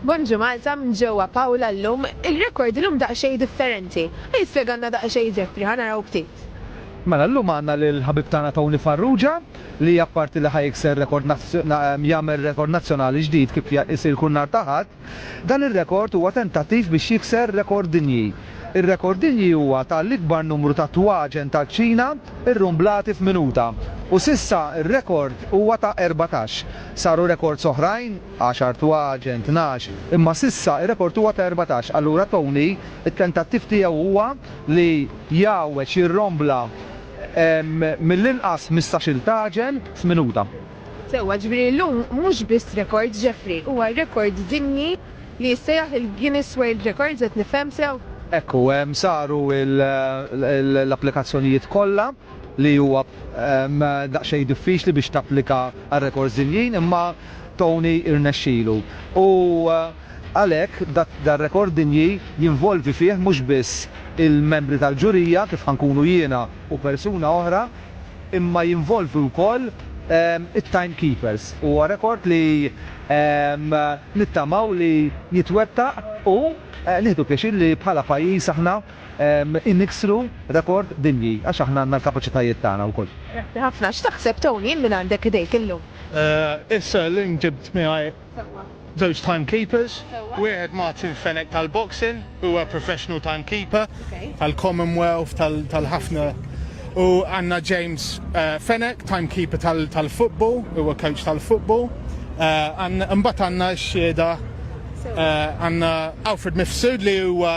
Bonġu Malta minn ġewwa Pawla llum, ir-rekord illum daqsxejn differenti. Ħa jispjegalna daqsxejn Ġefri, ħa naraw ftit. Mela llum għandna lill-ħabib tagħna Tony Farrugia li apparti li ħa jikser rekord jagħmel rekord nazzjonali ġdid kif isir kull nhar ta' Ħadd, dan ir-rekord huwa tentattiv biex jikser rekord dinji. Ir-rekord dinji huwa ta' l-ikbar numru ta' twaġen tal-kċina rrumblati f'minuta u s'issa r-rekord huwa ta' erbatax. Saru rekords oħrajn. Għaxar twaġen, tnax, imma s'issa r-rekord huwa ta' erbatax. Allura Tony, it-tentattiv tiegħu huwa li jgħawweġ, jirrombla mill-inqas ħmistax-il tagħġen f'minuta. Sewwa, jiġifieri llum mhux biss rekord, Jeffrey, huwa rekord dinji li jissejjaħ il-Guinness World Records, qed nifhem sew? Hekk hu, saru l-applikazzjonijiet kollha. li huwa daqsxejn diffiċli biex tapplika għal rekords dinjin imma Tony irnexxilu u għalhekk dar-rekord dinji jinvolvi fih mhux biss il-membri tal-ġurija kif ħa nkunu jiena u persuna oħra imma jinvolvi wkoll it-time keepers. Huwa rekord li nittamaw li jitwettaq u nieħdu pjaċir li bħala pajjiż aħna niksru rekord dinji għax aħna għandna l-kapaċitajiet tagħna wkoll. Grazzi ħafna. X'taħseb Tony minn għandek idejk illum? Issa llum ġibt miegħi żewġ time keepers. Wieħed Martin Fenech tal-boxing, huwa professional time keeper tal-Commonwealth, tal-ħafna. U għandna James Fenech, time keeper tal-football, huwa coach tal-football. Imbagħad għandna x-xhieda, għandna Alfred Mifsud li huwa